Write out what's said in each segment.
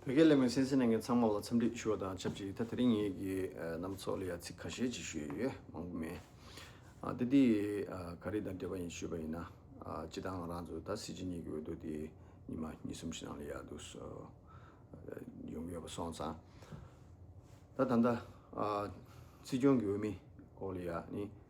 བོད་སྐད་གླེང་བའི་སེམས་ཅན་རྣམས་ཚང་མ་ལ་འཚམས་འདྲི་ཞུ་བ་དང་ཆབས་ཅིག་ད་དེ་རིང་ངེད་ཀྱི་རྣམས་ཚོགས་ལ་ཡང་ཚིག་ཁ་ཤས་ཅིག་ཞུ་ཡི་ཡོད་མང་པོ་མེད། དེ་འདི་ག་རིགས་དང་འབྲེལ་བ་ཡིན་ཞུས་པ་ཡིན་ན། སྤྱི་བཏང་ང་རང་ཚོ་ད་སྲིད་སྤྱི་གཉིས་ཀྱི་འོས་བསྡུ་དེ་ཉིན་མ་གཉིས་གསུམ་ཞིག་ནང་ལ་ཡག་སྡུག་གསུངས་ཡོང་གི་ཡོད་པ་སོང་ཙང། ད་ད་ལྟ་སྲིད་སྐྱོང་གི་འོས་མི་སྐོར་ལ་ཡང་ནི་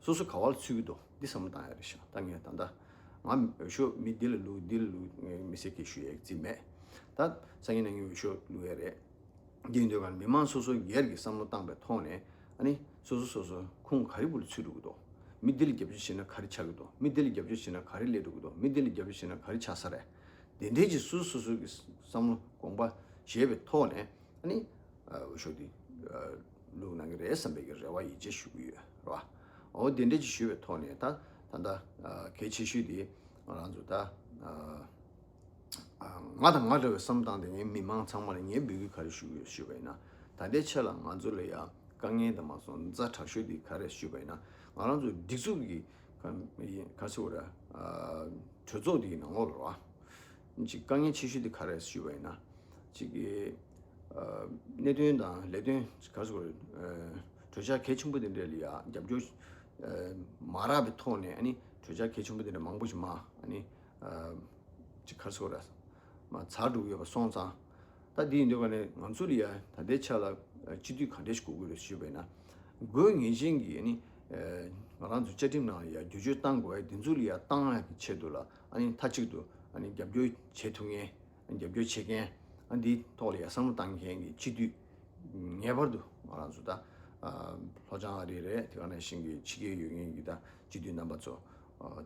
སོ་སོ་ག་བ་ལ་ཚུད་ཀྱི་འདུག་འདི་བསམ་བློ་བཏང་ཡག་རེད་ཤག་ད་ངས་ད་ལྟ་ང་འོས་ཤོག་མི་འདི་ལ་ལུས་འདི་ལ་ལུས་ངས་མི་སེར་སྐད་ཞུ་ཡག་རྩིས་མེད་ད་སང་ཉིན་ནང་ངས་འོས་ཤོག་ལུས་ཡག་རེད་འདིའི་དོན་ཁར་མི་དམངས་སོ་སོ་སྒེར་གྱི་བསམ་བློ་བཏང་པའི་ཐོག་ནས་ཨ་ནི་སོ་སོ་སོ་སོ་ཁུང་ག་རེ་བུ་ལ་ཚུད་འགྲོ་གི་འདུག་མི་འདི་ལ་རྒྱབ་སྐྱོར་བྱེད་ན་ག་རེ་ཆགས་ཀྱི་འདུག་མི་འདི་ལ་རྒྱབ་སྐྱོར་བྱེད་ན་ག་རེ་སླེབས་འགྲོ་གི་འདུག་མི་འདི་ལ་རྒྱབ་སྐྱོར་བྱེད་ན་ག་རེ་ཆགས་ས་རེད་དེ་འདྲའི་ཆེད་སོ་སོ་སོ་སོའི་བསམ་བློ་དགོངས་པ་བཞེས་པའི་ཐོག་ནས་ཨ་ནི་འོས་ཤོག་འདི་ལུགས་གནང་གི་རེད་བསམ་པའི་རེ་བ་ཡིད་ཆེས་ཞུ་གི་ཡོད་རེད་བ། འོ་དེ་འདྲའི་ཅིག་ཞུས་པའི་ཐོག་ནས་ད་ད་ལྟ་གལ་ཆེ་ཤོས་དེ་རང་ཚོ་ད་ང་དང་ང་འདྲ་བའི་བསམ་སྟངས་དེ་ངའི་མི་མང་ཚང་མ་ལ་ངས་འབོད་སྐུལ་ག་རེ་ཞུ་གི་ཡོད་ཞུས་པ་ཡིན་ན་ད་ལྟའི་ཆ་ལ་ང་ཚོ་ལ་ཡང་དཀའ་ངལ་དང་མ་སོང་རྫ་དྲག་ཤོས་དེ་ག་རེ་ཞུས་པ་ཡིན་ན་ང་རང་ཚོ་སྒྲིག་འཛུགས་ཀྱི་ག་ཚོད་རེད་གྲོས་ཚོགས་དེའི་ནང་ལོགས་རེད་བ། གཅིག་དཀའ་ངལ་ཆེ་ཤོས་དེ་ག་རེད་ཞུས་པ་ཡིན་ན། གཅིག་གི་གནད་དོན་དང་ལས་དོན་ག་ཚོད་རེད། གྲོས་འཆར་གལ་ཆེན་པོ་དེ་འདྲ་ལ་རྒྱབ་སྐྱོར་མ་རག་པའི་ཐོག་ནས་གྲོས་འཆར་གལ་ཆེན་པོ་དེ་འདྲ་མང་པོ་ཞིག་མ་གཅིག་ག་ཚོད་རེད། མ་ཚར་འགྲུབ་ཡོད་པ་སོང་ཙང། ད་དེ་ཡིན་དུས་ཀ་ནས་ང་ཚོ་ལ་ད་ལྟའི་ཆ་ལ་སྤྱི་འཐུས་ག་འདྲ་ཞིག་གོ་དགོས་རེད་ཞུས་པ་ཡིན་ན། དགོས་ངེས་ཅན་གྱི་ང་རང་ཚོ་བཅའ་ཁྲིམས་ནང་ལ་བསྒྱུར་བཅོས་གཏང་དགོས་པ་དེ་ཚོ་ལ་གཏང་བའི་ཆེད་དུ་ལ། མཐའ་གཅིག་ཏུ་རྒྱབ་སྐྱོར་བྱེད་ཐུབ་མཁན། རྒྱབ་སྐྱོར་བྱེད་མཁན། འདིའི་ཐོག་ལ་ཡ་བསམ་བློ་གཏང་མཁན་གྱི་སྤྱི་འཐུས། ངེས་པར་དུ་ང་རང་ཚོ་ད་ལྷོ་བྱང་ཨ་རི་རེད་དེ་ག་ནང་བཞིན་གྱི་ཕྱི་རྒྱལ་ཡོད་མཁན་གྱི་སྤྱི་འཐུས་རྣམ་པ་ཚོ་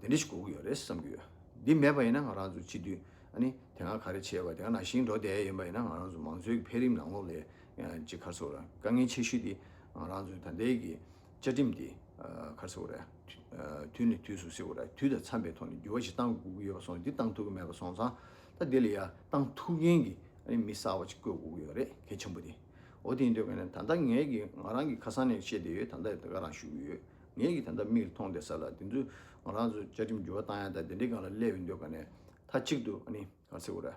དེ་འདྲ་ཞིག་དགོས་ཀྱི་ཡོད་རེད་བསམ་གྱི་ཡོད། འདི་མེད་པ་ཡིན་ན་ང་རང་ཚོ་སྤྱི་འཐུས་དེ་སྔ་ག་རེ་བྱས་པ་དེ་ག་ནང་བཞིན་འགྲོ་བསྡད་ཡོད་པ་ཡིན་ན་ང་རང་ཚོ་མང་གཙོའི་འཕེལ་རིམ་ནང་ལོགས་ལས་ཀྱི་ཁར་ཚོར་དཀའ་ངལ་ཆེ་ཤོས་དེ་ང་རང་ཚོའི་ད་ལྟའི་གི་བཅའ་ཁྲིམས་དེ་གར་སེལ་བ་རེད། དུས་ནས་དུས་སུ་སེལ་བ་རེད། དུས་དང་འཚམས་པའི་ཐོག་ནས་འགྱུར་བ་ཞིག་གཏང་དགོས་ཀྱི་ཡོད་པ་སོང་འདི་གཏང་ཐུབ་ཀྱི་མེད་པ་སོང་ཙང་ད་དེ་ལ་ཡ་གཏང་ཐུབ་མཁན་གྱི་མི་གསར་བ་ཅིག་བསྐོས་དགོས་ཀྱི་ཡོད་རེད་གལ་ཆེན་པོ་དེ། འོ་དེ་ཡིན་དུས་གནས་ད་ལྟ་ངས་ཀྱི་ང་རང་གི་ཁ་སང་ནས་བཤད་བསྡད་ཡོད་ད་ལྟ་ང་རང་ཞུ་གི་ཡོད། ངས་ཀྱི་ད་ལྟ་མིག་ལ་མཐོང་བསྡད་ས་ལ་དེ་ཚོས་ང་རང་ཚོ་བཅའ་ཁྲིམས་འགྱུར་བ་གཏང་ཡ་ད་དེ་འདྲའི་སྒང་ལ་སླེབས་ཡོད་འདོད་ག་ནས་མཐའ་གཅིག་ཏུ་གར་སེལ་བ་རེད།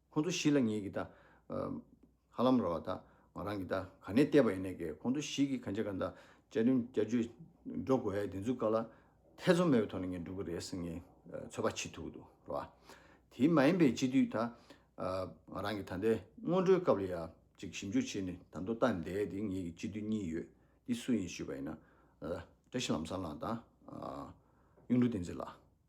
ཁོང་ཚོ་ཞིག་ལ་ངེད་ཀྱིས་ད། ཧ་ལམ་ར་བ་ད། ང་རང་གིས་ད་ག་ནས་བལྟས་པ་ཡིན་ནས་ཀྱེ་ཁོང་ཚོ་ཞིག་གིས་གན་རྒྱ་ག་ད་བཅའ་ཁྲིམས་བསྐྱར་བཅོས་འགྲོ་དགོས་ཡ་དེ་ཚོའི་བཀའ་ལ་ཐེ་ཚོམ་མེད་པའི་ཐོག་ནས་ངས་འགྲོ་གི་རེད་ཟེར་ངས་ཚོད་དཔག་བྱེད་ཐུབ་ཀྱི་འདུག་ར་བ། དེ་མ་ཡིན་པའི་སྤྱི་འཐུས་ད། ང་རང་གིས་ད་ལྟའི་སྔོན་འགྲོའི་སྐབས་ལ་ཡ་ཅིག་ཞིབ་འཇུག་བྱས་ནས་ད་མདོ་སྟ་འདས་དེ་ངེད་ཀྱི་སྤྱི་འཐུས་གཉིས་ཡོད་དེ་སུ་ཡིན་ཞུས་པ་ཡིན་ན། བཀྲ་ཤིས་ལམ་བཟང་ལགས་དང། གཡུང་དྲུང་བསྟན་འཛིན་ལགས།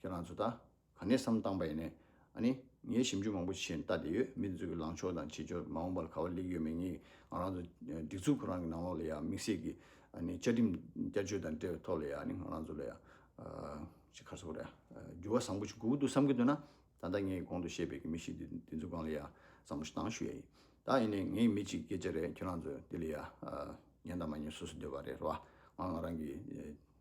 ཁྱོད་རང་ཚོ་ད་ག་ནས་བསམ་བཏང་པ་ཡིན། ཨ་ནི། ངས་ཞིབ་འཇུག་མང་པོ་བྱས་ནས་བལྟ་བསྡད་ཡོད། མི་འདི་ཚོ་གི་ལངས་ཕྱོགས་དང་བྱེད་འབྱོར་མ་འོངས་པ་ལ་ག་བ་ལེགས་ཡོད་མེད་ངེས། ང་རང་ཚོ་སྒྲིག་འཛུགས་ཁོ་རང་གི་ནང་ལོགས་ལ་ཡ་དམིགས་བསལ་གྱི་ཨ་ནི་བཅའ་ཁྲིམས་བསྐྱར་བཅོས་དང་འབྲེལ་བའི་ཐོག་ལ་ཡ་ཨ་ནི་ང་རང་ཚོ་ལ་ཡ། ཅི་ཁ་སོ་ར། འགྱུར་བ་བཟང་པོ་ཞིག་དགོས་ཀྱི་འདུག་བསམ་གྱི་འདུག་ན། ད་ལྟ་ངས་གོང་དུ་བཤད་པའི་གི་མི་ཞིག་འདི་འདི་ཚོ་སྒང་ལ་ཡ་བཟང་པོ་ཞིག་བཏང་ཞུ་ཡ་ཡིན། ད་ཡིན་ནའི་ངའི་མི་གཅིག་སྐད་ཆ་རེད་ཁྱོད་རང་ཚོ་འདི་ལ་ཡ། ཉན་དང་མ་ཉན་སོ་སོ་འདོད་པ་རེད་ར་བ། ང་ང་རང་གི།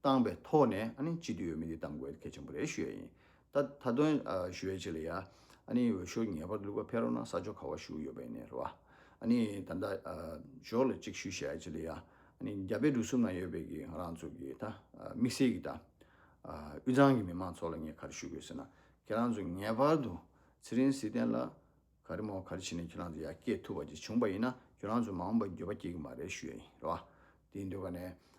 བཏང་བའི་ཐོག་ནས་སྤྱི་འཐུས་འོས་མི་དེ་བཏང་དགོས་གལ་ཆེན་པོ་རེད་ཞུ་ཡ་ཡིན། ད་དུང་ཞུ་ཡ་གཅིག་ལ་ཡ། འོས་ཤོག་ངེས་པར་ལུས་པ་ཕེ་རོག་ན་ས་ཆོག་ཁ་བ་ཞུ་གི་ཡོད་པ་ཡིན་ནས་རེད་བ། ད་ལྟ་ཞོག་ལ་གཅིག་ཞུ་ཞེས་ཡ་གཅིག་ལ་ཡ། རྒྱ་བལ་འབྲུག་གསུམ་ན་ཡོད་པའི་གི་ང་རང་ཚོ་གི་ད་དམིགས་བསལ་གི་ད་དབུས་གཙང་གི་མི་མང་ཚོ་ལ་ངས་ག་རེ་ཞུ་དགོས་ཟེར་ན། ཁྱེད་རང་ཚོ་ངེས་པར་དུ་ཚེ་རིང་བསིལ་ལྡན་ལ། ག་རེ་མོ་ག་རེ་བྱས་ནས་ཁྱོད་རང་ཚོ་ཡར་སྐྱེད་ཐུབ་པ་ཅིག་བྱུང་པ་ཡིན་ན་ཁྱོད་རང་ཚོ་མ་འོངས་པར་འགྱོད་པ་སྐྱེ་གི་མ་རེད་ཞུ་ཡ་ཡིན་རེད་བ། དེའི་འདོད་པ་ནས་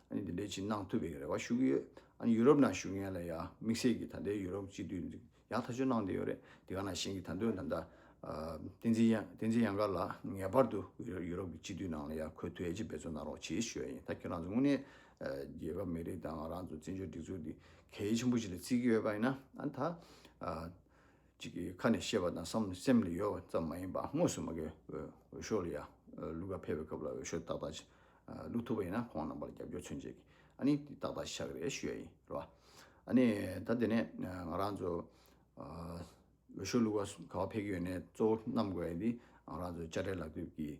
ཨ་ནི་དེ་འདྲའི་ཅིག་གནང་ཐུབ་པའི་རེ་བ་ཞུ་གི་ཡོད། ཨ་ནི་ཡུ་རོབ་ནང་བཞུགས་མཁན་ལ་ཡང་དམིགས་བསལ་གྱིས་ད་ལྟའི་ཡུ་རོབ་སྤྱི་འཐུས་ཡག་ཐག་ཆོད་གནང་བསྡད་ཡོད་རེད་དེ་ག་ནང་བཞིན་གྱི་ད་དུང་ད་ལྟ་བསྟན་འཛིན་བསྟན་འཛིན་གཡང་དཀར་ལགས་ངེས་པར་དུ་ཡུ་རོབ་ཀྱི་སྤྱི་འཐུས་ནང་ལ་ཡང་ཁོས་ཐུགས་ཡ་གཅིག་འབད་བརྩོན་གནང་རོགས་གྱིས་ཞུ་ཡ་ཡིན་ད་ཁྱོད་རང་ཚོ་དངོས་གནས་རྒྱལ་ཁབ་མི་རིགས་དང་ང་རང་ཚོ་བཙན་བྱོལ་སྒྲིག་འཛུགས་འདི་གལ་ཆེན་པོ་ཞིག་ལ་བརྩི་གི་ཡོད་པ་ཡིན་ན་ཨ་ནི་ད། གཅིག་གིས་ཁ་ནས་བཤད་པ་དང་བསམ་སེམས་ལ་ཡོད་པ་ཙམ་མ་ཡིན་པར་དངོས་སུ་མ་གའི་འོས་ཤོག་ལ་ཡ་ལུག་ག་འཕེལ་བའི་སྐབས་ལ་འོས་ཤོག་ཏག་ཏག་ལུག་ཐུབ་པ་ཡིན་ན་ཁོང་རྣམ་པར་རྒྱབ་སྐྱོར་མཚོན་བྱེད་ཀྱི་ཨ་ནི་དེ་ཏག་ཏག་ཤ་གི་རེད་ཞུ་ཡ་ཡིན་རེད་བ། ཨ་ནི་ད་དེ་ནས་ང་རང་ཚོ་འོས་ཤོག་ལུག་ག་ག་བ་འཕེལ་གྱི་ཡོད་ནས་གཙོ་བོ་རྣམ་དགོས་པ་ཡིན་དེ་ང་རང་ཚོ་དཔྱ་ཁྲལ་ལག་དུབ་ཀྱིས།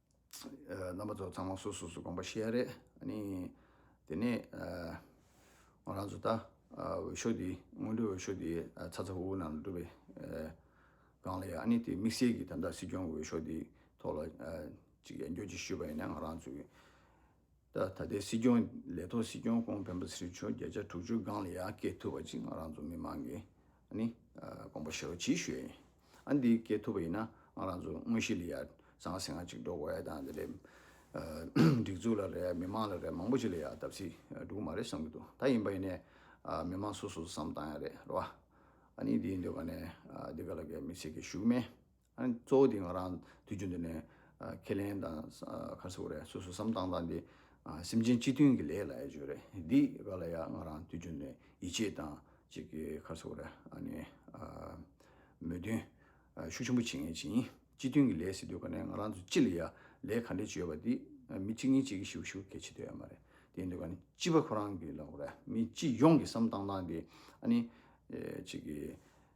རྣམ་པ་ཚོ་ཚང་མ་སོ་སོ་སོ་དགོངས་པ་ཤེས་ཡ་རེད་ཨཱནི། དེ་ནས་ང་རང་ཚོ་ད་འོས་ཤོག་འདི་སྔོན་འགྲོའི་འོས་ཤོག་འདི་ཚ་ཚ་ཧུ་ཧུ་ནང་སྒྲུབ་པའི་སྒང་ལ་ཡོད་ཨཱནི་དེ་དམིགས་བསལ་གྱི་ད་ལྟ་སྲིད་སྐྱོང་གི་འོས་ཤོག་འདི་ཐོག་ལ་གཅིག་ཡར་འགྱོད་ཅིག་ཞུས་པ་ཡིན་ན་ང་རང་ཚོའི། ད་ལྟའི་སྲིད་སྐྱོང་ལས་ཐོག་སྲིད་སྐྱོང་ཀོང་ཕན་པ་ཚེ་རིང་མཆོག་བརྒྱ་ཆ་དྲུག་ཅུ་སྒང་ལ་ཡར་སྐྱེལ་ཐུབ་པ་ཅིག་ང་རང་ཚོ་མི་མང་གིས་དགོངས་པ་ཞུ་རོགས་གྱིས་ཞུ་ཡ་ཡིན། ཨ་འདི་སྐྱེལ་ཐུབ་པ་ཡིན་ན་ང་རང་ཚོ་དངོས་གཞི་ལ་ཡར་བཟང་ཟེ་ང་ཅིག་འགྲོ་དགོས་ཡ་དང་དེ་འདྲའི་སྒྲིག་འཛུགས་ལ་རེད་མི་མང་ལ་རེད་མང་པོ་ཅིག་ལ་ཡར་བལྟ་བསིལ་འགྲོ་གི་མ་རེད་བསམ་གྱི་འདུག་ད་ཡིན་པ་ཡིན་ནས་མི་མང་སོ་སོས་བསམ་བཏང་ཡ་རེད་རེད་བ། ཨ་ནི་འདིའི་འདོད་པ་ནས་འདི་ག་ལ་གའི་མི་ཚེ་གི་ཞུགས་མེད། གཙོ་བོ་དེ་ང་རང་དུས་རྒྱུན་དུ་ནས་ཁས་ལེན་དང་ཁ་གསོ་རེད་སོ་སོ་བསམ་སྟངས་དང་དེ་སེམས་ཅན་གཅིག་མཐུན་གྱི་ལས་ལ་ཡ་བྱོས་རེད་འདི་ག་ལ་ཡ་ང་རང་དུས་རྒྱུན་ནས་ཡིད་ཆེས་དང་ཅིག་གི་ཁ་གསོ་རེད་ཨ་ནི་མོས་མཐུན་ཤུགས་ཆེན་པོ་བྱེད་ངེས་ཅིང་གཅིག་མཐུན་གྱི་ལས་ཟེར་དུས་ག་ནས་ང་རང་ཚོ་ཅི་ལ་ཡ་ལས་ག་འདྲས་བྱོས་པ་འདི་མི་གཅིག་གཉིས་གཅིག་གི་ཞིག་ཤུགས་གལ་ཆེ་དོད་ཡ་མ་རེད་དེ་ཡིན་དུས་ག་ནས་སྤྱི་པ་ཁོ་རང་གི་ལ་གོ་རེད་མི་སྤྱི་ཡོངས་ཀྱི་བསམ་སྟངས་དང་དེ་ཨ་ནི་ཅིག་གི།